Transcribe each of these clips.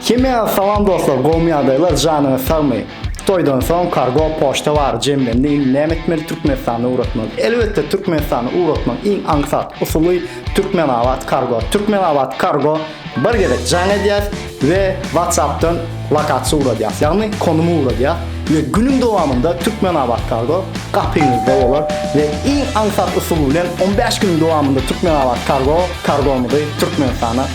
Kimya salam dostlar gowmy ýagdaýlar janyňyz sagmy toýdan soň kargo poçta bar jemlendi indi näme etmeli türkmenistana ugratmaly elbetde türkmenistana ugratmak iň aňsat usuly türkmenabat kargo türkmenabat kargo bir gezek jaň edýär we whatsappdan lokasiýa ugradýar ýagny konumy ugradýar we günüň dowamynda türkmenabat kargo gapyňyzda bolar we iň aňsat usuly bilen 15 günüň dowamynda türkmenabat kargo kargomyzy türkmenistana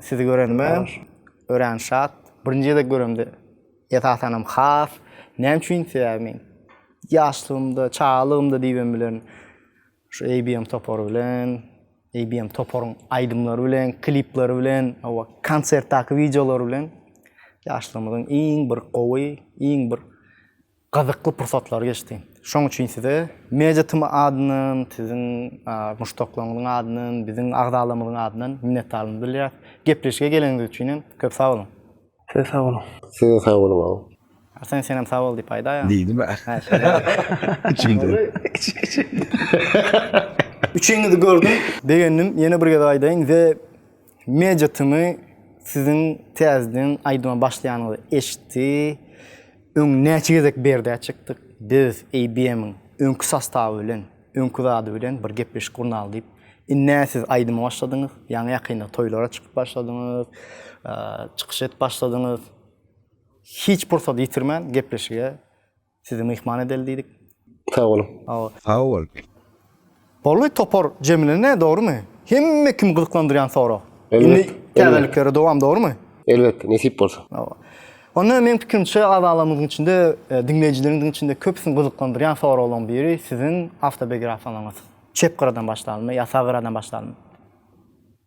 Sizi görenime örän şat. Birinji gezek göremde esasanam has. Näme üçin? Sebäbi men ýaşlygymda, çagalygymda diýibem bilerin. Şu ABM topary bilen, ABM toparyň aýdymlary bilen, klipleri bilen, hawa, konsertdäki wideolary bilen ýaşlygymyzyň iň bir gowy, iň bir gyzykly pursatlary geçdi. Şoň üçin size Media TM adyndan, siziň muşdaklaryňyzyň adyndan, biziň agzalarymyzyň adyndan minnetdarlygymy bildirýäs. Gepleşige geleniňiz üçin hem köp sag boluň. Siz sag boluň. Siz sag boluň. Arsen senem sag bol diýip aýdaýa. Diýdim ä. Içimden. Üçiňizi gördüm. Begendim. Ýene bir gezek aýdaýyn. The Media tmy siziň täzeden aýdyma başlaýanyňyzy eşitdi. Öň näçe gezek berdä çykdyk. Biz ABM-iň öňki sostawy bilen, öňki zady bilen bir gepleşik gurnaly diýip. Indi nä siz aýdyma başladyňyz? Ýaňy ýakynda toýlara çykyp başladyňyz. Çykyş edip başladyňyz. Hiç pursat ýitirmän gepleşige Sizi myhman edeli diýdik. Sag boluň. Sag bol. Sag bol. Boldy topar jemlene dogrymy? Hemme kim gyzyklandyrýan sorag. Indi täzeliklere dowam dogrymy? Elbetde nesip bolsa. Hawa. Onda meň pikirimçe agzalarymyzyň içinde, e, diňleýjileriň içinde köpüsini gyzyklandyrýan soraglaryň biri siziň awtobiografiýaňyz. Çep gyradan başlalymy ýa sag gyradan başlalymy?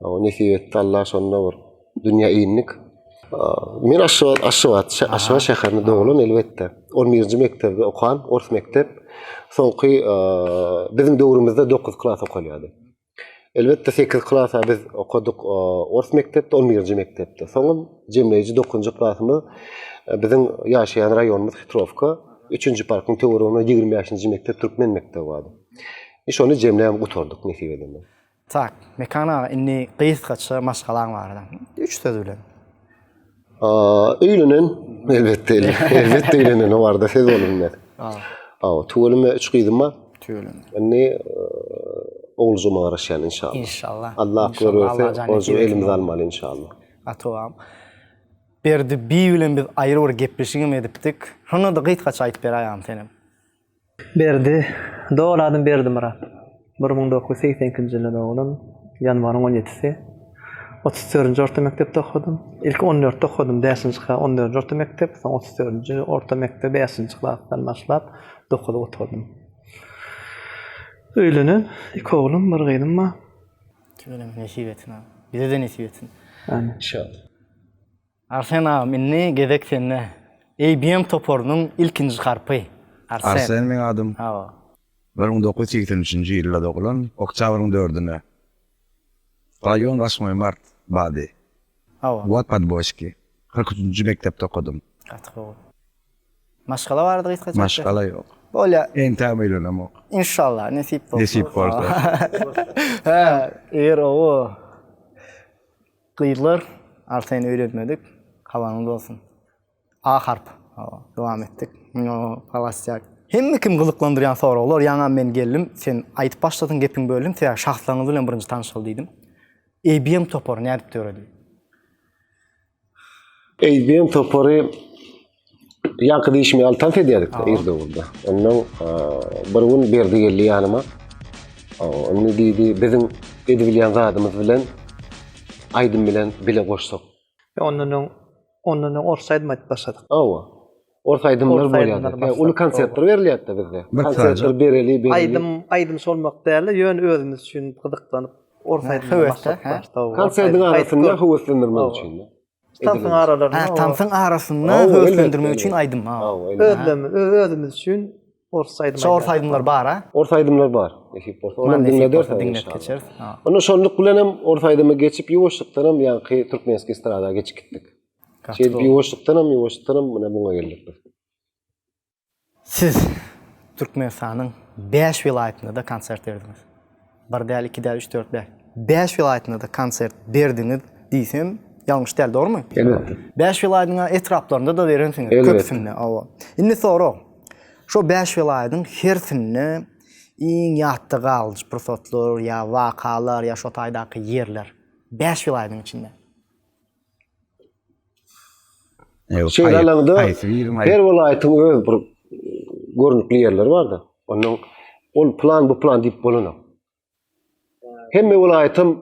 O nesip etdi Allah şonda bir dünýä indik. Men Aşgabat, Aşgabat, Aşgabat şäherinde doglan elbetde. 11-nji mekdepde okan, ors mekdep. Soňky biziň döwrümizde 9 klas okalýardy. Elbetde 8 klasa biz okadyk ors mekdepde, 11-nji mekdepde. Soňam jemleýji 9-njy klasymyz biziň ýaşaýan raýonymyz Hitrowka, 3-nji parkyň töwereginde 25-nji mekdep türkmen mekdebi bardy. Şony jemläp gutardyk nesip edende. Tak, Mekan aga, indi gysgaça maşgalaň barada, üç söz bilen. Öýlenen, elbetde, elbetde öýlenen, o barada söz bolunmaz. Hawa, tüweleme we üç gyzym bar. Tüweleme. Indi oguljygyma garaşýan, inşallah. Inşallah. Allah akbar berse, oguljygy elimize almaly, inşallah. Gatowam. Berdi bi bilen biz aýry bir gepleşigem edipdik. Şonda-da gysgaça aýdyp beräýeň senem. Berdi, doly adym Berdimyrat. Bir müň dokuz ýüz segsen ikinji ýylda dogulyn, ýanwaryň on ýedisi. Otuz dördünji orta mekdepde okadym. Ilki on dörtde okadym, bäşinji klas, on dördünji orta mekdep, soň otuz dördünji orta mekdep, bäşinji klasdan başlap dokuzy gutardym. Öýlenen, iki oglum, bir gyzym bar. Kimiňem nesip etsin, bize-de nesip etsin. Amin. Şa. Arsen agam indi gezek sende. ABM toparynyň ilkinji harpy. Arsen. Arsen meň adym. Hawa. Bir müň dokuz ýüz segsen üçünji ýylda dogulan, oktýabryň dördüne. Raýon waşmoý mart bady. Hawa. Wod podboşki. Kyrk üçünji mekdepde okadym. Gaty gowy. Maşgala barada gysgaça aýtsaň. Maşgala ýok. Bolýar. Entägem öýlenemok. Inşallah nesip bolsa. Nesip bolsa. Hä, eger owo. Gyzlar artaýyn öýlenmedik hawaňyz bolsun A harp hawa dowam etdik muňa galasýak. Hemme kim gyzyklandyrýan soraglar ýaňam men geldim sen aýdyp başladyň gepiň böldüm sebäbi şahslaryňyz bilen birinji tanyşaly diýdim. ABM topary nädip döredi? ABM topary Ýaňky dişimi al tans edýärdik de irde urda. Ondan bir gün berdi geldi ýanyma. Ony diýdi, biziň edip bilýän zadymyz bilen aýdym bilen bile goşsak. Ýa ondan öň ondan öň ors aýdym aýdyp başladyk. Hawa. Ors aýdymlar bolýardy. Uly konsertler berilýärdi bizde. Konsertler bereli, bereli. Aýdym, aýdym solmak däl-de, ýöne özümiz üçin gyzyklanyp ors aýdymlar başladyk. Konsertiň arasynda höweslendirmek üçin. Tansyň aralarynda. Ha, tansyň arasynda höweslendirmek üçin aýdym. Ha, özlemi, özümiz üçin ors aýdym. Şu ors aýdymlar bar, ha? Ors aýdymlar bar. Nesip bolsa, onu diňleder, diňläp geçeris. Ha. Onda şonluk bilen hem ors aýdymy geçip ýuwaşlykdan hem ýaňky türkmenski estrada geçip gitdik. Şeýdip ýuwaşlykdan hem ýuwaşlykdan hem muňa geldik biz. Siz Türkmenistanyň bäş welaýatynda-da konsert berdiňiz. Bir däl, iki däl, üç, dört däl. Bäş welaýatynda-da konsert berdiňiz diýsem, ýalňyş däl, dogrumy? Elbetde. Bäş welaýatyň ethraplarynda-da berensiňiz, köpüsinde, hawa. Indi sorag. Şo bäş welaýatyň hersinde iň ýatda galyjy pursatlar ýa wakalar ýa şo taýdaky ýerler? Bäş welaýatyň içinde. Ýok, Şeýle haýyr, alanda haýsy biriň aýyp? her welaýatyň öz bir görnükli ýerleri bar-da. Ondan ol plan, bu plan diýip bolanok. Hemme welaýatam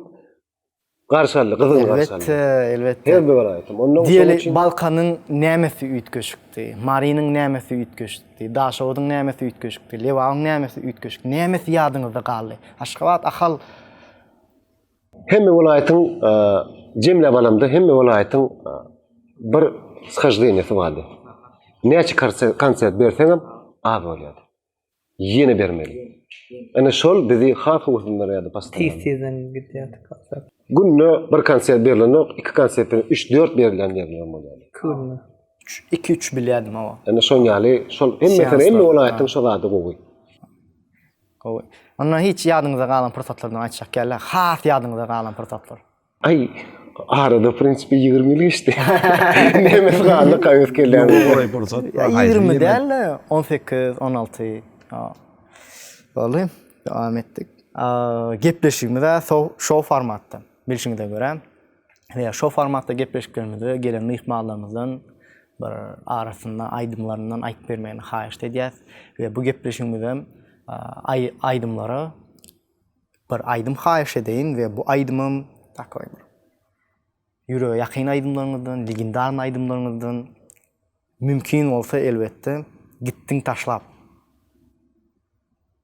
garşy aldy, gyzgyn garşy aldy. Elbetde, elbetde. Her bir welaýatam. Ondan soň Diýeli, üçin Balkanyň nämesi üýtgeşikdi, Marynyň nämesi üýtgeşikdi, Daşoguzyň nämesi üýtgeşikdi, Lebabyň nämesi üýtgeşik, nämesi ýadyňyzda galdy? Aşgabat, Ahal, Hemme welaýatyň jemläp alamda hemme welaýatyň bir shyždeniýasy bardy. Näçe konsert berseňem az bolýardy. Ýene bermeli. Ene şol bizi has uwsundyrýardy postoýan. Tiz tizden gidýärdi konsert. Günde bir konsert berlenok, iki konsertden üç dört berlen ýerlerem bolýardy. Iki günde. Üç iki üç bilýärdim hawa. Ene şoň ýaly şol hemme hemme welaýatyň şol zady gowy. Gowy. Onda hiç ýadyňyzda galan pursatlardan aýtjak geldi? Has ýadyňyzda galan pursatlar. Aý, arada w prinsipi ýigrimi ýyl geçdi. Nemes galdy kaýus kelle. Ýoga golaý pursat. Ýigrimi däl-de, on sekiz, on alty. Boldy. Dowam etdik. Gepleşigimiz-ä şou formatda. Bilşiňize görä. we şo formatda gepleşiklerimizde gelen myhmanlarymyzdan bir arasynda aýdymlaryndan aýdyp bermegini haýyşt edýäs we bu gepleşigimiz hem aýdymlara bir aýdym haýyş edeýin we bu aýdymym takoý bir ýürege ýakyn aýdymlaryňyzdan, legendar aýdymlaryňyzdan mümkin bolsa elbetde gitdiň taşlap.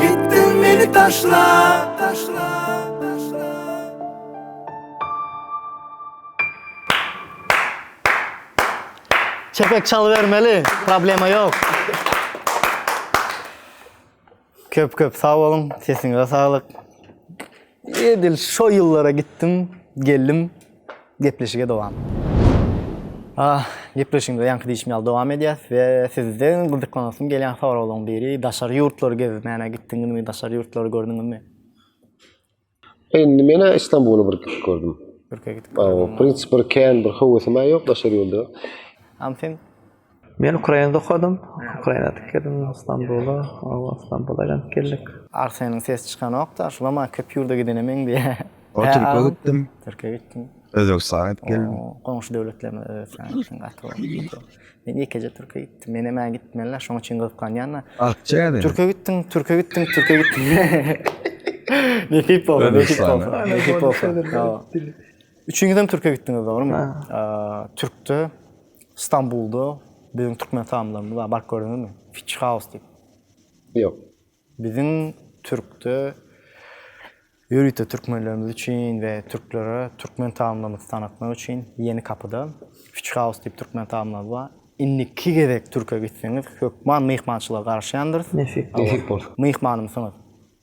Gitdiň meni taşlap, taşlap, taşlap. Çepek çalybermeli, problema ýok. Köp köp sag boluň, sesiňize saglyk. Edil şo ýyllara gitdim, geldim, gepleşige dowam. Ah, gepleşigimize ýaňky diýişim ýaly dowam edýäs we sizden gyzyklanasym gelýän soraglaryň biri, daşary ýurtlary gezmäne gitdiňizmi, daşary ýurtlary gördüňizmi? Indi men-ä Istanbula bir gidip gördüm. Türkiýä gidip gördüňmi? Prins bir kän bir höwesim-ä ýok daşary ýurda. Am sen? Men Ukrainada okadym. Ukrainada tikdim, Stambula, Stambula aýlanyp geldik. Arseniň sesi çykanok-da, şulam-a köp ýurda gidene meňzeýär. Türkiýä gitdim. Türkiýä gitdim. Özbegistana gidip geldim. Goňşy döwletlerimiz Özbegistan gitdim, gaty gowy. Men ýekeje Türkiýä gitdim. Menem-ä gitmeli-le, şonuň üçin gyzyklanýan-da. Türkiýä gitdim, Türkiýä gitdim, Türkiýä gitdim. Nesip bolsa, nesip bolsa, nesip bolsa. Üçiňizem Türkiýä gitdiňiz, dogrumy? Türkde. Stambulda biziň türkmen samylarymyz bar, baryp gördüňizmi? Fitch House diýip. Ýok. Biziň türkde ýörite türkmenlerimiz üçin we türklere türkmen tagamlarymyzy tanatmak üçin Ýeni Kapyda Fitch House diýip türkmen tagamlarymyz bar. Indiki gezek türke gitseňiz, hökman myhmançylyga garaşýandyrys. Nesip bolsa. Myhmanymsyňyz.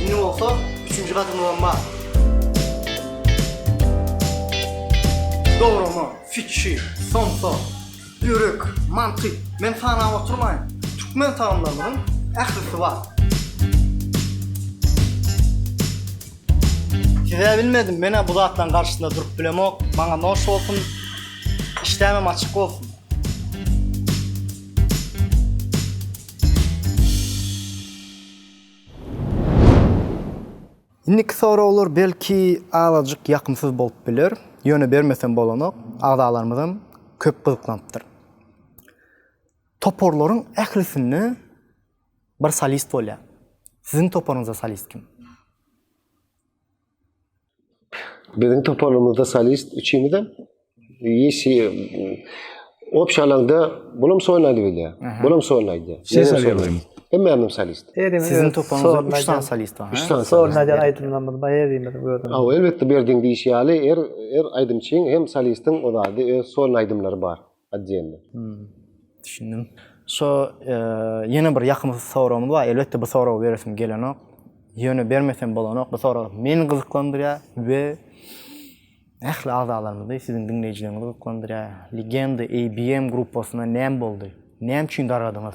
Indi bolsa üçünji gadymyzam bar. Dograma, fikir, somsa, ýürek, mantyk, men sanap oturmaýyn. Türkmen tagamlarynyň ählisi bar. Size bilmedim, men-ä bu zatlaryň garşysynda durup bilemok. Maňa noş bolsun, işdämem açyk bolsun. Indiki soraglar belki azajyk ýakymsyz bolup biler, ýöne bermesem bolanok, agzalarymyzam köp gyzyklanypdyr. Toparlaryň ählisinde bir solist bolýar. Siziň toparyňyzda solist kim? Biziň toparymyzda solist üçimiz hem ýeşi opşa alanda bulam soýnaýdy bilýä. Bulam soýnaýdy. Ses alyň. Hemme hem solist. Siziň toparyňyzda 3 sany solist bar. 3 sany solist. Näde aýdymlarymyz bar ýerimiz gördüm. Aw, elbetde berdiň diýişi ýaly, er er aýdymçyň hem solistiň ozady öz soýnaýdymlary bar. Отdельno. Düşündim. Şo ýene bir ýakym soragymyz bar. Elbetde bu soragy beresim gelenok. Ýöne bermesem bolanok. Bu sorag meni gyzyklandyrýar we ähli agzalarymyzy, siziň diňleýjilerňizi gyzyklandyrýar. Legenda ABM gruppasyna näme boldy? Näme üçin dargadyňyz?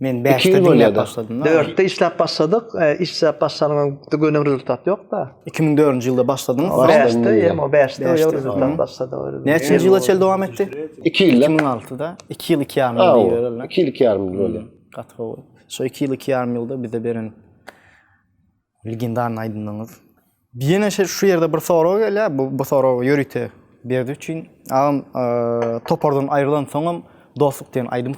Men bäşde diňläp başladym. Dörtde işläp başladyk. Işläp başlanyň göni rezultat ýok-da. Iki müň dördünji ýylda başladyň. Bäşde, ýa-da bäşde ýa-da rezultat başlady. Näçe ýyla çenli dowam etdi? Iki ýyl. Iki müň altyda iki ýyl iki ýarym ýyl diýerler. Iki ýyl iki ýarym ýyl bolýar. Gaty gowy. Şo iki ýyl iki ýarym ýylda bize beren legendarnyý aýdymlaryňyz. Ýene şu ýerde bir sorag gelýär. Bu sorag ýörite Berdi üçin. Agam topardan aýrylansoňam Dostluk diýen aýdym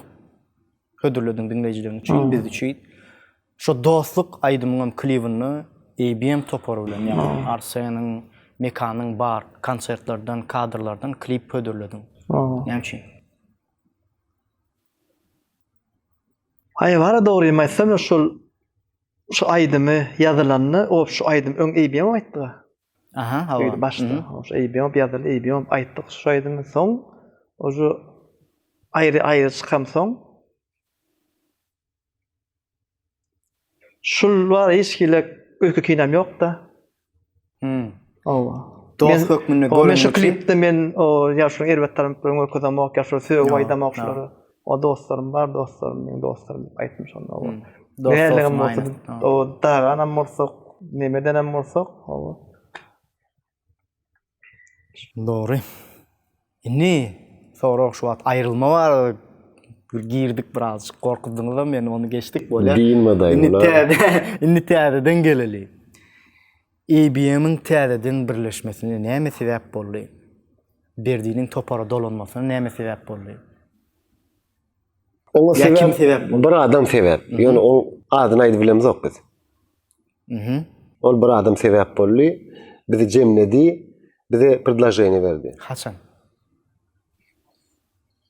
Hödürlediň diňleýjileriň üçin, biz üçin. Şo dostluk aýdymyňam klibinde ABM topary bilen, ýagny Arseniň, Mekanyň bar konsertlerden, kadrlardan klip hödürlediň. Näme üçin? Aý, wara dogrymy aýtsam, şol şu aýdymy ýazylanda, o şu aýdym öň ABM aýtdy. Aha hawa. Eýdi başda. Eýbi ýop ýazyl eýbi ýop aýtdyk şu aýdymy soň ožo aýry aýry çykam soň. Şul bar hiç hili öýke kinam ýokda. Hmm. Hawa. Dost hökmünde görünmesi. Şu klipde men o ýaşuly erbet tarapyny görkezemok, ýaşuly söýüp aýdamok şulara. O dostlarym bar, dostlarym meň dostlarym diýip aýtmyş onda. Dostlarym bolsa, o dagan hem bolsak, nemeden hem bolsak, o. Dogry. Indi sorag şu wagt aýrylma barada girdik birazjyk gorkuzdyňyz hem meni ony geçdik bolýar. Indi täze indi täzeden geleli. IBM-iň täzeden birleşmesine näme sebäp boldy? Berdiniň topara dolanmasyna näme sebäp boldy? Oňa sebäp, kim sebäp boldy? Bir adam sebäp. Ýöne oň adyny aýdyp bilemizok biz. Mhm. Ol bir adam sebäp boldy. Bizi jemledi. Bize predloženiýe berdi. Haçan?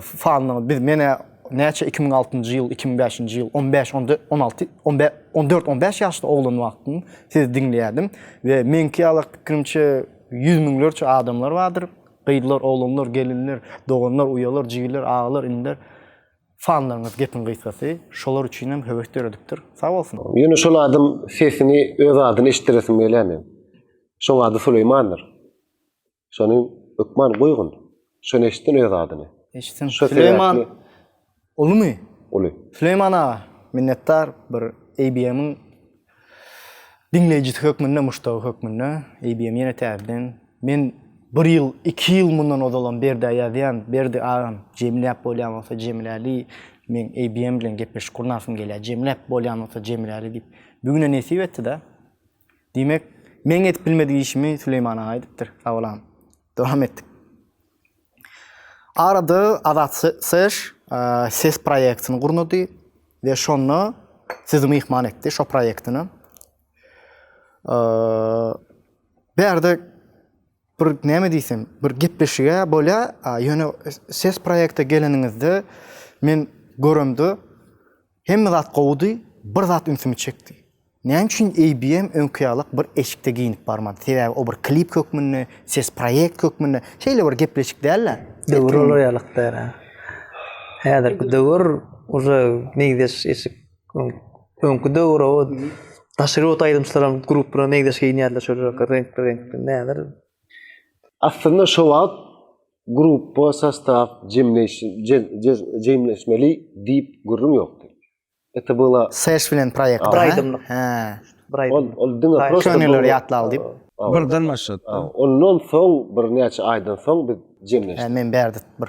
Fannyň biz menä näçe iki müň altynjy ýyl, iki müň bäşinji ýyl on bäş, on dört, on alty, on bä, on dört, on bäş ýaşda oglan wagtym sizi diňleýärdim we meňki ýalak pikirimçe ýüz müňlerçe adamlar bardyr, gyzlar, oglanlar, gelinler, doganlar, uýalar, jigiller, agalar, iniler. Fanlaryňyz gepiň gysgasy şolar üçin hem höwes döredipdir. Sag bolsun. Ýöne şol adam sesini öz adyny eşitdiresim gelýär meň. Şoň ady Suleýmandyr. Şony hökman goýgun. Şony eşitsin öz adyny. Eşitsin. Süleýman ulumy? Uly. Süleýman aga, minnetdar bir ABM-iň diňleýjisi hökmünde, muşdagy hökmünde. ABM ýene täzeden. Men bir ýyl, iki ýyl mundan ozalam Berdä ýazýan. Berdi agam, jemläp bolýan bolsa jemläli. Men ABM bilen gepleşik gurnasym gelýär. Jemläp bolýan bolsa jemläli diýip. Bu güne nesip etdi-de. Diýmek, meň edip bilmedik işimi Süleýman aga edipdir. Sag bol agam. Dowam etdik. Arada Azat SSH ses proýektini gurnady we şonda sizi myhman etdi şo proýektine. Bärde Bir näme diýsem, bir gepleşige bolýa, ýöne ses proýekte geleniňizde men göremde hemme zat gowudy, bir zat ünsümi çekdi. Näme üçin ABM öňki ýalak bir eşikde geýinip barmady? Sebäbi o bir klip hökmünde, ses proýekt hökmünde, şeýle bir gepleşik däl-de. Döwür olar ýalak däl-ä. Häzirki döwür uje negdeş eşik. Öňki döwür o daşary ýurt aýdymçylar hem grup bilen meňzeş geýinýärler şol reňkli reňkli näler. Aslynda şo wagt grupba sostaw jemleşmeli diýip gürrüň ýokdy. Ete byla. Seş bilen proýekt. Bir aýdymlyk. Hä. Bir aýdym. Ol diňe prosta. Köneleri ýatlal diýip. Birden başlady. Ondan soň birnäçe aýdan soň biz jemleşdik. Hä men bärde bir.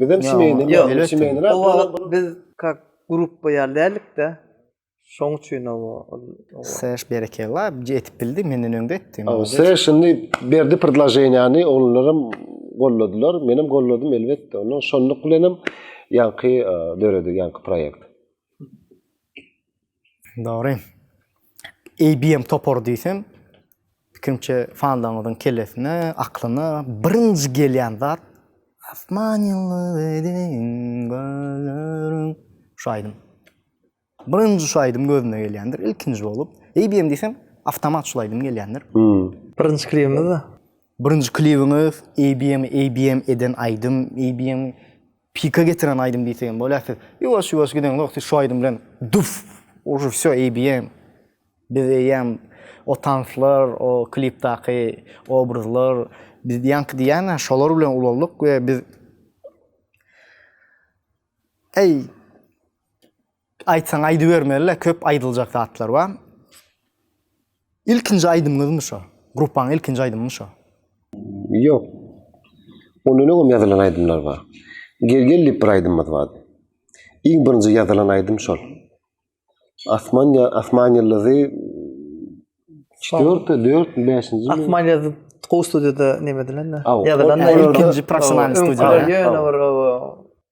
Bizem çimeýine, ýa çimeýine. O wagt biz kak grup boýar dälikde. Şoň üçin o Seş berekella, ýetip bildi, menden öňde etdi. O seş indi berdi predloženiýany, onlaram golladylar, menem golladym elbetde. Onda şonluk bilenem ýaňky döredi, ýaňky proýekt. Dogry. ABM topary diýsem, kimçe fanlaňyzyň kellesine, aklyna birinji gelýän zat Asman ýyldyz edin gözlerim. Şu aýdym. Birinji şu aýdym gözüne gelýändir, ilkinji bolup. ABM diýsem, awtomat şu aýdym gelýändir. Birinji klibimiz-de. Birinji klibiňiz, ABM, ABM eden aýdym, ABM. Pika getiren aýdym diýsegem bolýar siz ýuwaş ýuwaş gideňzok siz şu aýdym bilen duf uje vsё eýbm biz eýýäm o tanslar o klipdaky obrazlar biz ýaňky diýýäňä şolar bilen ulaldyk we biz eý Aýtsaň aýdybermeli-le, köp aýdyljak zatlar bar. Ilkinji aýdymyňyzmy şo? Gruppaň ilkinji aýdymymy şo? Ýok. Ondan öňem ýazylan aýdymlar bar. Gel gel diýip bir aýdymymyz bardy. Iň birinji ýazylan aýdym şol. Asman ýa Asman ýyldyzy dörtde dörtmi bäşinjimi? Asman ýyldyzy gowy studiýada näme edilen-de? Ýazylan ilkinji professional studiýa. Ýöne bir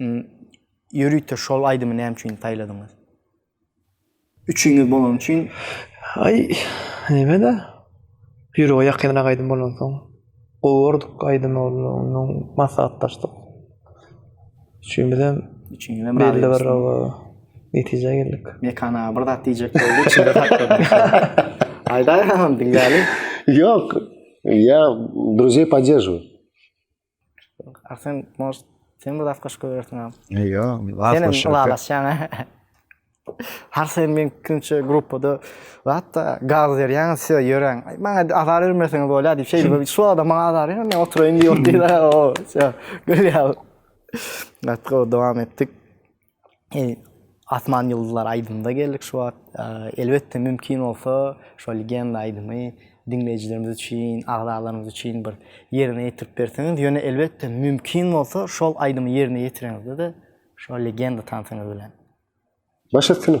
Ýörite şol aýdymy näme üçin saýladyňyz? Üçiňiz bolany üçin. Aý, neme-de. Ýürege ýakynrak aýdym bolansoň. Gowy gördük aýdymy onda onnoň maslahatlaşdyk. Üçimiz hem belli bir oba netijä geldik. Mekan aga bir zat diýjek boldy içinde saklady. Aýdaý ha diňläliň. Ýok, ýa druzýe podderžiwuj. Sen может sen bir zat goşup goýbersiňam. Ýok, zat Sen goşup. ylalaşýaň. Har sen men kimçe gruppada hatda gaz berýäň, size ýöräň. Maňa azar bermeseňiz bolýar diýip şeýle bir şu adam maňa azar berýär, men oturaýyn diýip otyrlar. O, gülýär. Gatga dowam etdik. Asman ýyldyzlary aýdymyna geldik şu wagt. Elbetde mümkin bolsa şo legenda aýdymy diňleýjilerimiz üçin, agzalarymyz üçin bir ýerine ýetirip berseňiz, ýöne elbetde mümkin bolsa şol aýdymy ýerine ýetireňizde-de şo legenda tansyňyz bilen. Baş üstüne.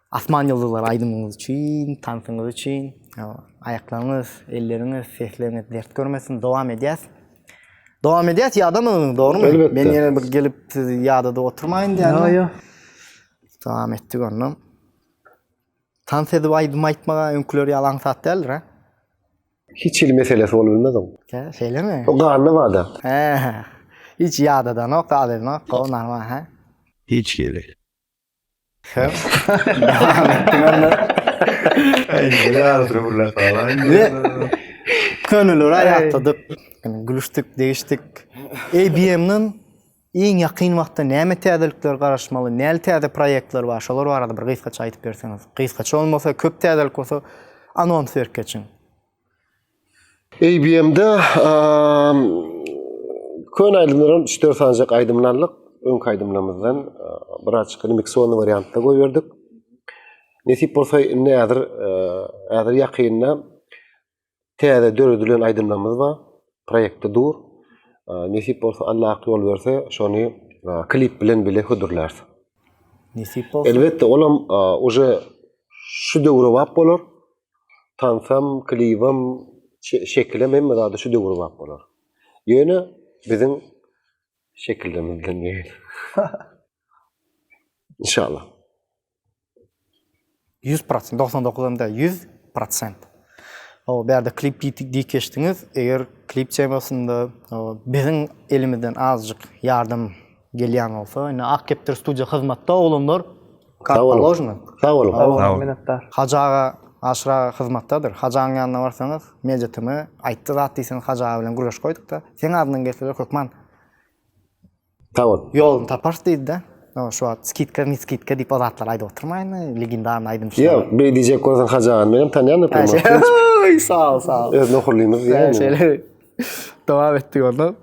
Asman ýyldyzlary aýdymyňyz üçin, tansyňyz üçin. Aýaklaryňyz, elleriňiz, sesleriňiz dert görmesin. Dowam edýäs. Dowam edýäs, ýadamadyňyz, dogrumy? Elbetde. Men ýene bir gelip sizi ýadada oturmaýyn diýen. Ýa, ýa. Dowam etdik onda. Tans edip aýdym aýtmaga öňküleri ýaly aňsat däldir, hä? Hiç hili meselesi bolup bilmez oň. Hä, şeýlemi? O ganda bada. Hä. Hiç ýadadanok, adydanok, o normal, hä? Hiç hili. Sen devam ettin onda. Indi ýarysyny gürläp galaýyn. Könüleri aýatladyk, gülüşdik, degişdik. ABM-den iň ýakyn wagtda näme täzelikler garaşmaly, näli täze proýektler bar, şolar barada bir gysgaça aýdyp berseňiz. Gysgaça bolmasa, köp täzelik bolsa, anons berip geçiň. ABM-de köne aýdymlardan 3-4 sanjak aýdymlar aldyk. Öňki aýdymlarymyzdan biraz çykyny miksowany wariantda goýberdik. Nesip bolsa indi häzir häzir ýakynda täze döredilen aýdymlarymyz bar. Proýektde dur. Nesip bolsa Allah ak ýol berse şony klip bilen bile hödürläris. Nesip bolsa. Elbetde olam uje şu döwre wap bolar. tansam, klibem, şekilem hemme zady şu döwrebap bolar. Ýöne biziň şekilimiz bilen geýin. Inşallah. 100 prosent, 99 hem de 100 prosent. O berde klip diýip geçdiňiz. Eger klip temasynda biziň elimizden azjyk ýardam Gelýän bolsa indi Ak kepdir studiýa hyzmatda oglanlar. Sag boluň. Sag boluň. Sag boluň. Minnetdar. Hajy aga, Aşyr aga hyzmatdadyr. Hajy agaň ýanyna barsaňyz, Media TM aýtdy zat diýseňiz Hajy aga bilen gürleşip goýdukda. Seň adyňdan gelseler hökman. Sag bol. Ýoluny taparys diýdi-de. Ýok, şu wagt skidka, ne skidka diýip o zatlary aýdyp oturmaýyn. Legendarny aýdymçy. Ýok, beý diýjek bolsaň Hajy agany menem tanýan oturmaýyn. Oý, sag bol, sag bol. Özüni ohurlymyz diýýän. Şeýle. Dowam etdik onda.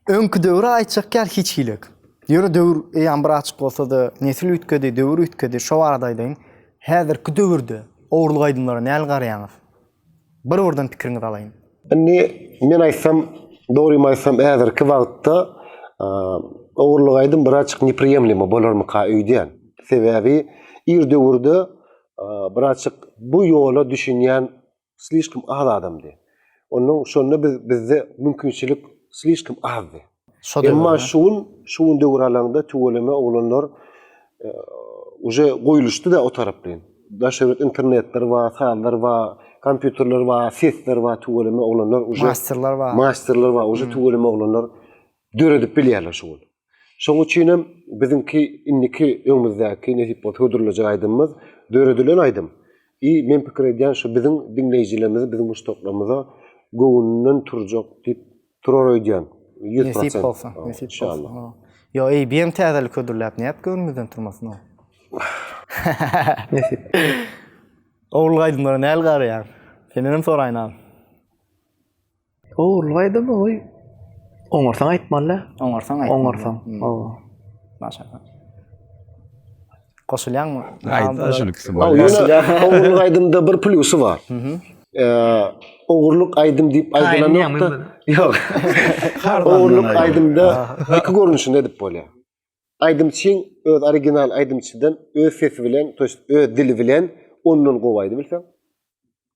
Öňki döwri aýtjak ýaly hiç hili ýok. Ýöne döwür eýýam bir açyk bolsa-da, nesil üýtgedi, döwür üýtgedi. Şo barada aýdaýyn. Häzirki döwürde ogurlyk aýdymlara näl garaýaňyz? Bir-birden pikiriňizi alaýyn. Indi men aýtsam, dogrymy aýtsam, häzirki wagtda ogurlyk aýdym bir açyk nepriýemlimo bolarmyka öýdýän. Sebäbi ir döwürde bir açyk bu ýola düşünýän slişkim az adamdy. Ondan şonda biz bizde mümkinçilik slişkim azdy. Emma şu gün şu gün döwür alaňda tüweleme oglanlar uje goýluşdyda o taraplaýyn. Daş öwret internetler bar, sazlar bar, kompýuterler bar, sesler bar, tüweleme oglanlar uje masterler bar. Masterler bar, uje tüweleme oglanlar döredip bilýärler şu gün. Şonuň üçin hem biziňki indiki öňümizdäki nesip bolsa hödürlejek aýdymymyz döredilen aýdym. I men pikir edýän şu biziň diňleýjilerimize biziň muşdaklarymyza göwünden turjak diýip turar öýdýän. Ýüz prosent. Nesip bolsa, nesip bolsa. Ýo eý biem täzelik hödürläp nädip göwnümizden turmasyn o. Nesip. Owulgy aýdymlara näl garaýaň? Sendenem soraýyn agam. Ogurlyk aýdym oý. Oňarsaň aýtmaly. Oňarsaň aýtmaly. Oňarsaň. Hmm. Owa. Maşallah. Goşulýaňmy? Aýda şuny ikisi bar. Ogurlyk aýdymda bir plusy bar. Mhm. ogurluk aýdym diýip aýdylan ýokda. Ýok. Ogurluk aýdymda iki görnüşinde edip bolýar. Aýdymçyň öz original aýdymçydan öz sesi bilen, öz dili bilen ondan gowy aýdyp bilseň.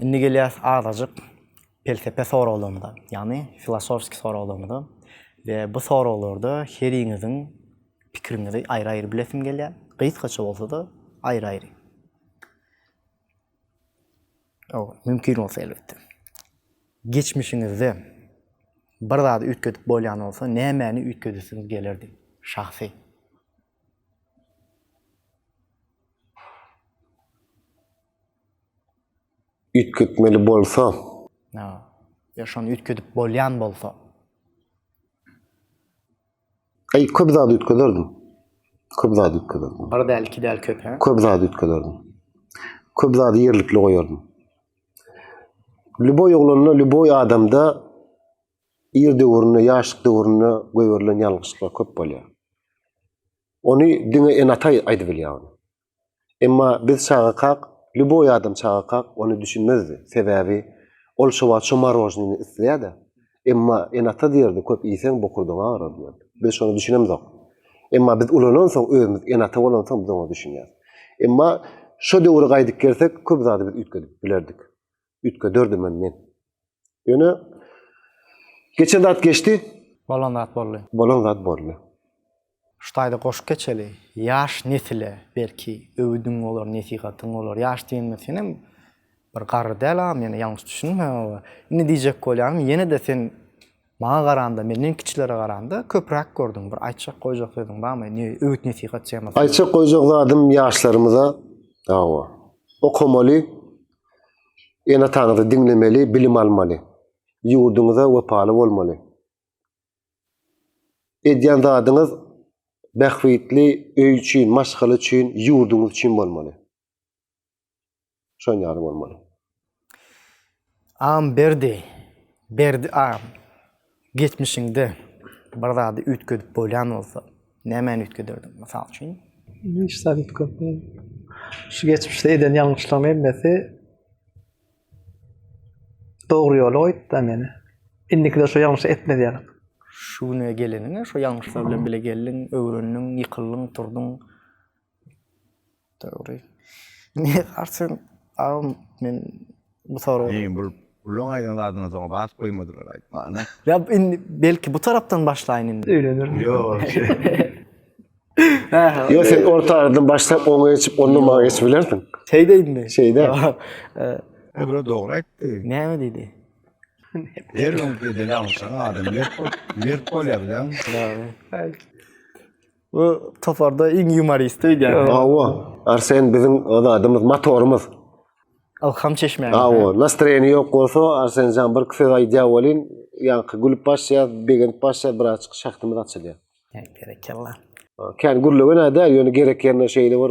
Indi gelýäs azajyk pelsepe soraglarymyza, ýagny filosofski soraglarymyza we bu soraglarda heriňiziň pikiriňizi aýry-aýry bilesim gelýär, gysgaça bolsa-da aýry-aýry. Ow, mümkin bolsa elbetde. Geçmişiňizde bir zady üýtgedip bolýan bolsa, nämäni üýtgedesiňiz gelerdi? Şahsy. üýtgetmeli bolsa. Ha. Ya şony üýtgedip bolýan bolsa. Ay köp zat üýtgederdim. Köp zat üýtgederdim. Bir däl, iki däl köp, ha? Köp zat üýtgederdim. Köp zady ýerlikli goýardym. Lüboý oglanda, lüboý adamda ir döwründe, ýaşlyk döwründe goýberilen ýalňyşlyklar köp bolýar. Ony diňe ene-ata aýdyp bilýär ony. Emma biz çagakak, lýuboý adam çagakak ony düşünmezdi. Sebäbi ol şo wagt şo marožnini isleýär-de. Emma ene-ata diýerdi, köp iýseň bokurdagyň agarar diýerdi. Biz şony düşünemzok. Emma biz ulanansoň, özümiz ene-ata bolansoň biz oňa düşünýäris. Emma şo döwre gaýdyp gelsek, köp zady biz üýtgedip bilerdik. üýtgederdim-em men. Ýöne geçen zat geçdi. Bolan zat boldy. Bolan zat boldy. Şu taýda goşup geçeli. Ýaş nesile belki öwüdiň bolar, nesihatyň bolar. Ýaş diýenime senem bir garry däl agam, ýene ýalňyş düşünme. Indi diýjek bolýanym, ýene-de sen maňa garanda, menden kiçilere garanda köpräk gördüň. Bir aýtjak, goýjak sözüň barmy? Ne öwüt-nesihat temasa? Aýtjak, goýjak zadym ýaşlarymyza, hawa, okamaly, Ene-ataňyzy diňlemeli, bilim almaly. Ýurduňyza wepaly bolmaly. Edýän zadyňyz bähbitli öý üçin, maşgala üçin, ýurduňyz üçin bolmaly. Şon ýaly bolmaly. Am berdi, berdi am. Geçmişiňde bir zady üýtgedip bolýan bolsa, nämäni üýtgederdiň? Mysal üçin? Hiç zat üýtgedip bolmaz. Şu geçmişde eden ýalňyşlygym emmesi dogry ýola goýupdy-da meni. Indikide şu ýalňyşy etmezýälik. Şu güne geleniňe, şu ýalňyşlar bilen bile geldiň, öwrendiň, ýykyldyň, turduň. Dogry. Ne garçyň agam men bu soraga. Meň bul bulaň aýdan zadyna soň basyp goýmadylar aýtmana. Ýa indi belki bu tarapdan başlaýyn indi. Öýlenir. Ýok. Ýok sen orta aradan başlap oňa geçip ondan maňa geçip bilersiň. Şeý deýinmi? Şeýde. Ebra dogry aýtdy. Näme diýdi? Her gün edil aňşan adam mert bol, mert bolýar bilen. Dogry. Bu toparda iň ýumorist öýdýän. Awa, Arsen biziň zadymyz, motorymyz. Ylham çeşmämiz. Awa, nastroýeniň ýok bolsa, Arsenjan bir iki söz aýdýar welin, ýaňky gülüp başlaýas, begenip başlaýas, birazjyk şahdymyz açylýar. Berekella. Kän gürlegenä däl, ýöne gerek ýerinde şeýle bir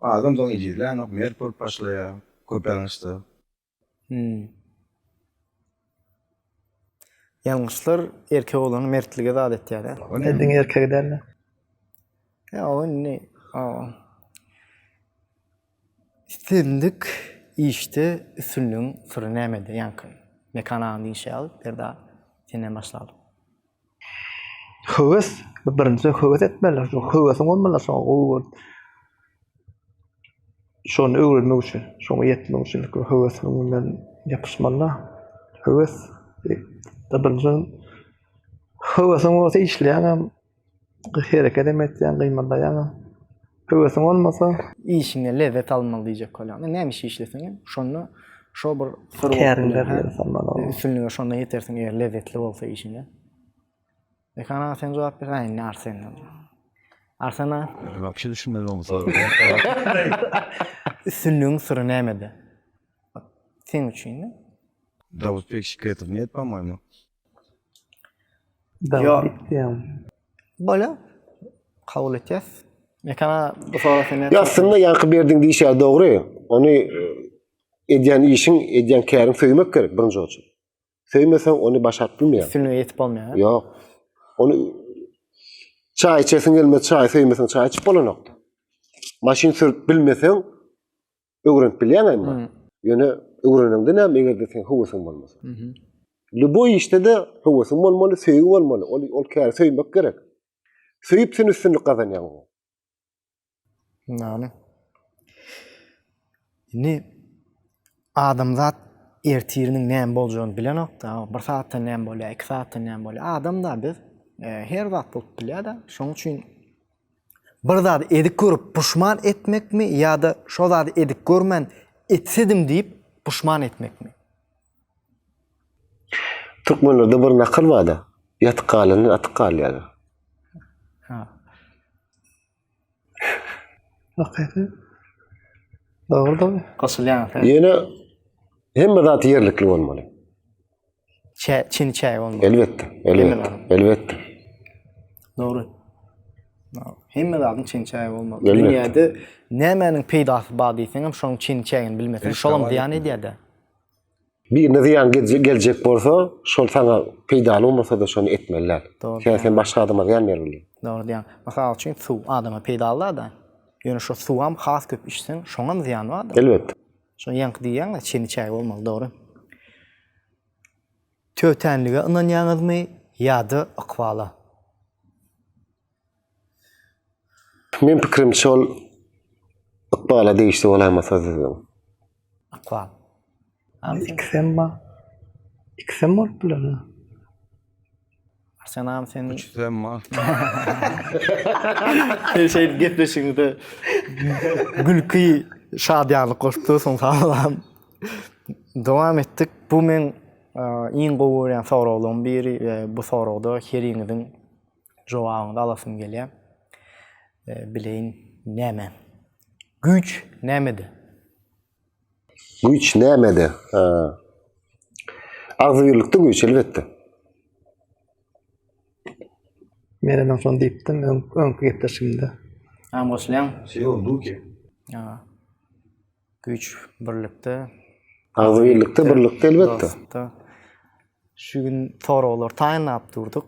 Adam soň ejizlänok, mert bolup başlaýar, köpelňişde. Hum. Ýalňyşlar erkek oglany mertlige zat etýär, ä? Ol ne? Diňe erkegi däl-de. Ýa ol indi Islendik işde üstünligiň syry nämede ýaňky? Mekan agaň diýşi ýaly, Berdi aga, senden başlalyň. Höwes, birinjiden höwes etmeli, şo höwesiň bolmalydyr şoňa gowy görüp. Şony öwrenmek üçin, şoňa ýetmek üçin ilki bir höwesiň bilen ýapyşmaly-da. Höwes, birinjiden höwesiň bolsa işleýäňem, hereket hem etýäň, gymyldaýaňam. Höwesiň bolmasa, işiňe lezzet almaly diýjek bolýan. Näme iş işleseň hem, şonda şo bir syr bolup üstünlige şonda ýetersiň, eger lezzetli bolsa işiňe. Mekan aga sen jogap ber, indi Arsen. Arsen aga. Wagşy düşünmez oň soragy. Üstünligiň syry nämede? Seň üçin. Dawutbek Şiketow net, pa-moýmy. Aslynda ýaňky berdiň diýiş ýaly dogry, ony edýän işiň, edýän käriň söýmek gerek birinji oçak. Söýmeseň ony başaryp bilmeýäň. Üstünlige ýetip bolmaýar. Ýok. Ony çaý içesiň gelmez, çaýy söýmeseň çaý içip bolanok. Maşyn sürüp bilmeseň Öwrenip bilýän emma. Ýöne öwrenende näme eger-de sen höwesiň bolmasa. Lüboý işde-de höwesiň bolmaly, söýgi bolmaly. Ol ol käri söýmek gerek. Söýüp sen üstünlik gazanýaň. Näme? Indi adamzat ertiriniň näme boljagyny bilenokda. Bir saatda näme bolýar, iki saatda näme bolýar. Adam da biz e, her zat bolup bilýär-de. Şonuň üçin Bir zady edik görüp puşman etmekmi ýa-da şo zady edik görmän etsedim diýip puşman etmekmi? Türkmenlerde bir nakyl bar-da, Ýatyk galandan atyk galýar. Ha. Hakyky. Dogrudyr. Goşulýan söz. Ýöne hemme zat ýerlikli bolmaly. Çä, çini çäge bolmaly. Elbetde, elbetde, elbetde. Dogry. Hemme zadyň çini çäge bolmaly. Dünýäde nämäniň peýdasy bar diýseň hem şonuň çini çägini bilmeseň, şolam zyýan edýär-de. Birine zyýan geljek bolsa, şol sana peýdaly bolmasa-da şony etmeli däl. Sen sen başga adama zyýan bermeli. Dogry diýýäň. Mysal üçin, suw adama peýdaly-da. Ýöne şo suwam has köp içseň, şoňam zyýany bar-da. Elbetde. Şo ýaňky diýýäňiz, çini çägi bolmaly, dogry. Tötänlige ynanýaňyzmy ýa-da ykbala? Men pikirimçe ol ykbala degişli bolamasa düzgün. Ykbal. Ikisem bar. Ikisem bolup biler. Arsenal sen Üçüsem mal. sen şeýdip gepleşigiňde gülki, şadyýanlyk goşupdyrsyň salam. Dowam etdik. Bu men iň gowy görýän soraglaryň biri we bu soragda heriňiziň jogabyny alasym gelýär. Bileýin näme? Güýç nämede? Güýç nämede? Agzybirlikde güýç, elbetde. Men hem şony diýipdim öňki gepleşigimde. Näme goşulýaň? Seo Luke. Ýa. Güýç birlikde. Agzybirlikde, birlikde elbetde. Şu gün soraglary taýynlap durduk.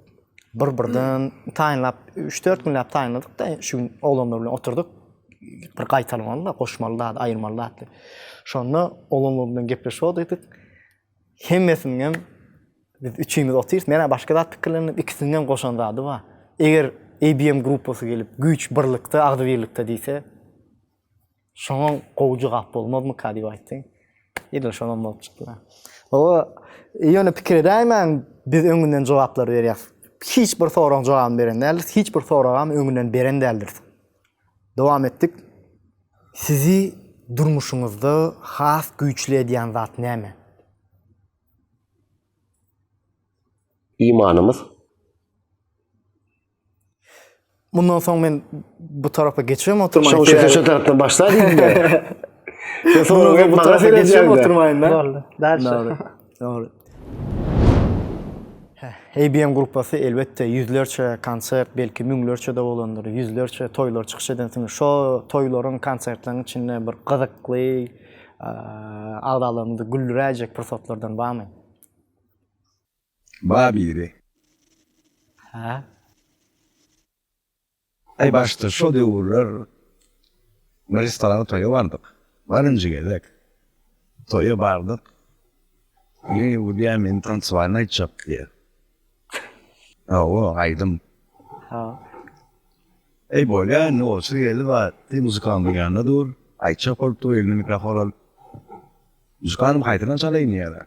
Bir-birden taýynlap, üç-dört günläp taýynladyk-da, şu gün oglanlar bilen oturdyk. Bir gaýtalamaly-da, goşmaly zat, aýyrmaly zat diýip. Şonda oglanlar bilen gepleşip otyrdyk. Hemmesiniň hem biz üçimiz otyrys. Men-ä başga zat pikirlendim. Ikisiniň hem goşan zady bar. Eger ABM gruppasy gelip, güýç birlikde, agzybirlikde diýse, Şoňam gowy jogap bolmazmyka diýip aýtdy. Edil şonam bolup çykdy-da. Hawa, ýöne pikir edäýmäň, biz öňünden jogaplary berýäs. Hiç bir soragyň jogabyny beren däldiris, hiç bir soragam öňünden beren däldiris. Dowam etdik. Sizi durmuşyňyzda has güýçli edýän zat näme? Imanymyz. Mundan soň men bu tarapa geçem oturmaýyn. Şoň şeýle şu tarapdan başla diýdi. Soňra bu tarapa geçem oturmaýyn da. Boldy. Däl. Dogry. ABM gruppasy elbetde ýüzlerçe konsert, belki müňlerçe de bolandyr, ýüzlerçe toýlar çykyş edensiňiz. Şo toýlaryň, konsertleriň içinde bir gyzykly agzalarymyzy güldüräýjek pursatlardan barmy? Bar biri. Hä? Aý başda şo döwürler bir restorana toýa bardyk. Barynjy gezek. Toýa bardyk. Ýene ýurduýa meni tansowaýyny aýtjak diýýär. Hawa, aýdym. Ha. Eý bolýa indi otur geldi bar. Sen muzykantyň ýanynda dur. Aýtjak bolup dur elinde mikrofon alyp. Muzykanty haýsyna çalaýyn diýýär.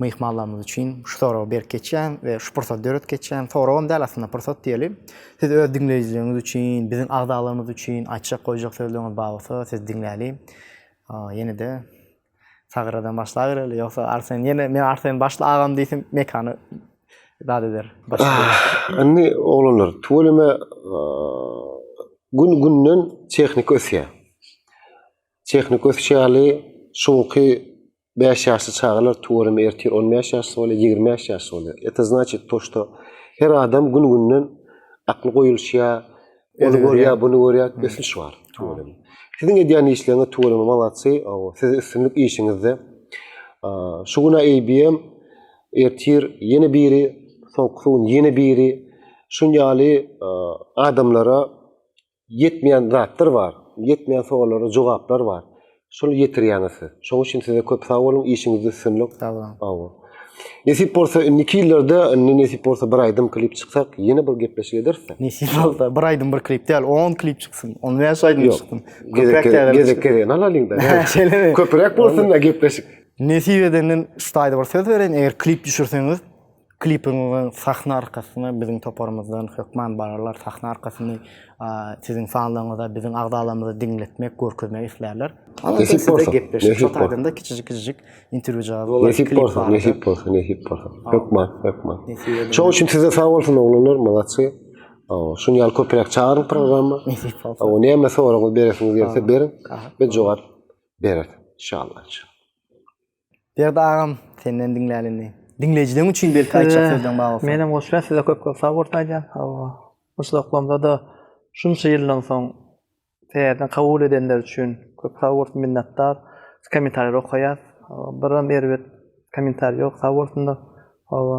Myhmanlarymyz üçin şu soragy berip geçýän we şu pursady döredip geçýän, soragam däl aslynda, pursat diýeli. Siz öz diňleýjileriňiz üçin, biziň agzalarymyz üçin aýtjak, goýjak sözleriňiz bar bolsa, sizi diňläli. Ýene-de Sagradan başlabereli, ýogsa Arsen ýene men Arsen başla agam diýsin, mekany zat eder. Indi oglanlar, tüweleme gün-günden tehnika ösýär. Tehnika ösüşi ýaly, şu günki Bäş ýaşly çagalar tuweleme ertir on bäş ýaş bolýar, ýigrimi bäş ýaş bolýar. Eto znaçit to, što her adam gün-günden akly goýulşýar, ony görýär, buny görýär, ösüş bar tuweleme. Siziň edýän işleriňiz tuweleme malatsy, aw, size üstünlik işiňizde. Şu gün-ä ABM, ertir ýene biri, soňkusy gün ýene biri, şun ýaly adamlara Ýetmeýän zatlar bar, ýetmeýän sowallara jogaplar bar. Şuny ýetirýäňiz siz. Şoň üçin size köp sag boluň, işiňizde üstünlik. Sag boluň. Sag boluň. Nesip bolsa indiki ýyllarda, indi nesip bolsa bir aýdym klip çyksak, ýene bir gepleşik ederis-de. Nesip bolsa, bir aýdym bir klip däl, on klip çyksyn, on bäş aýdym çyksyn. Gezek gezek gezegini alalyň-da. Köpräk bolsun-da gepleşik. Nesip edenden şu taýda bir söz bereýin, eger klip düşürseňiz, Klipiň we sahna arkasyny biziň toparymyzdan hökman bararlar. Sahna arkasyny siziň fanlaryňyza, biziň agzalarymyza diňletmek, görkezmek islärler. Nesip bolsa, gepleşik şo taýdan-da kiçijik-kiçijik interwýu jaby bolar. Nesip bolsa, nesip bolsa, nesip bolsa. Hökman, hökman. Şoň üçin size sag bolsun oglanlar, malatçy. Şuny ýaly köpräk çagyryň programma. Nesip bolsa. Awa, näme soragyňyz beresiňiz gelse beriň. Biz jogap bereris. Inşallah. Berdi agam senden diňläli indi. Diňleýjileň üçin belki aýtjak sözleň bar bolsa. Menem goşulýan size köp köp sag bolsun aýdýan. Hawa. Uçluklamda-da şunça ýyldan soň täzeden kabul edenler üçin köp sag bolsun minnetdar. Kommentariýalary okaýas. Biram erbet kommentariý ýok sag bolsunlar. Hawa.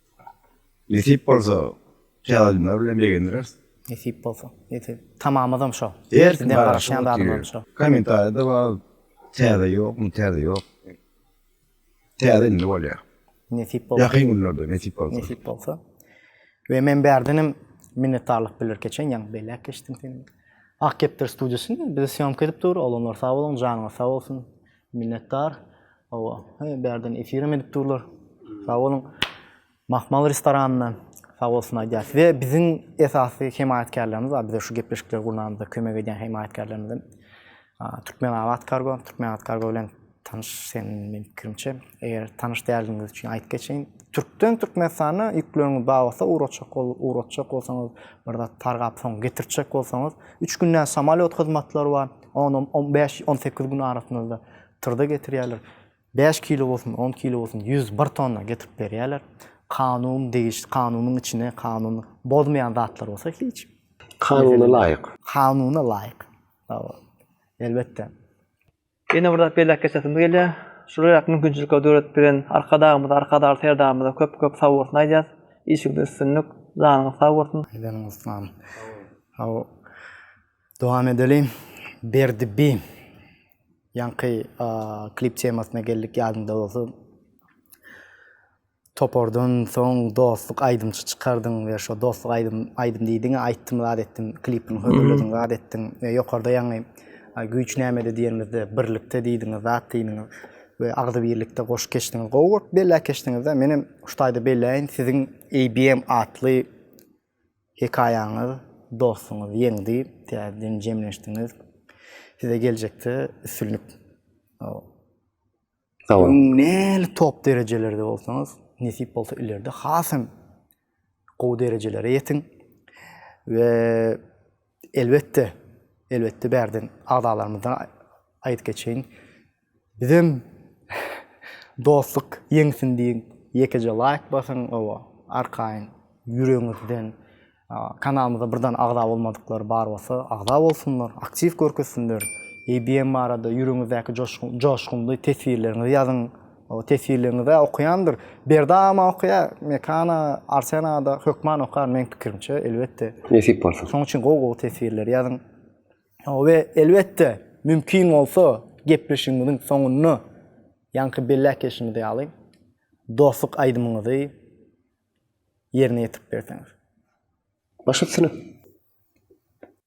Nesip bolsa tealimler bilen begendireris. Nesip bolsa. Ýeti tamamyzam şo. Her kim garaşýan zadyňam şo. Kommentariýada bar. Täze ýokmy, täze ýok. Täze indi bolýar. Nesip bolsa. Ýakyn günlerde nesip bolsa. Nesip bolsa. We men bärdenem minnetdarlyk bildirip geçen, ýaňy belläp geçdim seni. Ak kepder studiýasy bize syýomka edip dur. Olamlar sag boluň, janyňyz sag bolsun. Minnetdar. Hawa, he, bärden efir hem edip durlar. Sag boluň. Mahmal restoranyndan sag bolsun aýdýas. We biziň esasy hemaýatkärlerimiz bar, bize şu gepleşikleri gurnamyzda kömek edýän hemaýatkärlerimiz hem Türkmenabat Kargo, Türkmenabat Kargo bilen tanyş sen meniň pikirimçe. Eger tanyş däldigiňiz üçin aýdyp geçeýin. Türkden Türkmenistana ýükleriňiz bar bolsa ugratjak ugratjak bolsaňyz, bir zat targap soň getirtjek bolsaňyz, üç günde samalýot hyzmatlary bar. On on on bäş on sekiz gün arasynda tyrda getirýärler. Bäş kilo bolsun, on kilo bolsun, ýüz bir tonna getirip berýärler. Kanun degişli kanunyň içine kanun bozmaýan zatlar bolsa hiç. Kanuna laýyk. Kanuna laýyk. Hawa. Elbetde. Ýene bir zat belläp geçesim gelýär. Şular mümkinçilikleri döredip beren Arkadagymyza, Arkadagly Serdarymyza köp köp sag bolsun aýdýas. Işiňizde üstünlik. Janyňyz sag bolsun. Janyňyz sag bolsun. Hawa. Dowam edelim. Berdi bi. Ýaňky klip temasyna geldik ýadyňda bolsa. Topardan soň dostluk aýdymçy çykardyň we şo dostluk aýdym aýdym diýdiň, aýtdym zat etdim, klipini hödürlediň, zat etdiň we ýokarda ýaňy güýç nämede diýenimizde birlikde diýdiňiz, zat diýdiňiz we agzybirlikde goşup geçdiňiz. Gowy goşup belläp geçdiňiz-de. Menem şu taýda belläýin, siziň ABM atly Hekaýaňyz dostuňyz ýeňdi täzeden jemleşdiňiz size geljekde üstünlik sagboluň. Öň näli top derejelerde bolsaňyz nesip bolsa ileride hasam gowy derejelere ýetiň we Elbetde, elbetde bärden agzalarymyzdan aýdyp geçeýin. Bizem dostluk ýeňsin diýiň, ýekeje laýk basyň, owa, arkaýyn ýüregiňizden kanalymyza birden agza bolmadyklar bar bolsa, agza bolsunlar, aktiw görkezsinler. ABM barada ýüregiňizdäki joşgunly teswirleriňizi ýazyň. O tesirligiňizä okaýandyr. Berdama okaýa, Mekana, Arsenada hökman okar meň pikirimçe, elbetde. Nesip bolsa. Şoň üçin gowy-gowy tesirler ýazyň. We elbetde, mümkin bolsa, gepleşigimiziň soňunda ýaňky belläp geçişimiz ýaly dostluk aýdymyňyzy ýerine ýetirip berseňiz. Baş üstüne.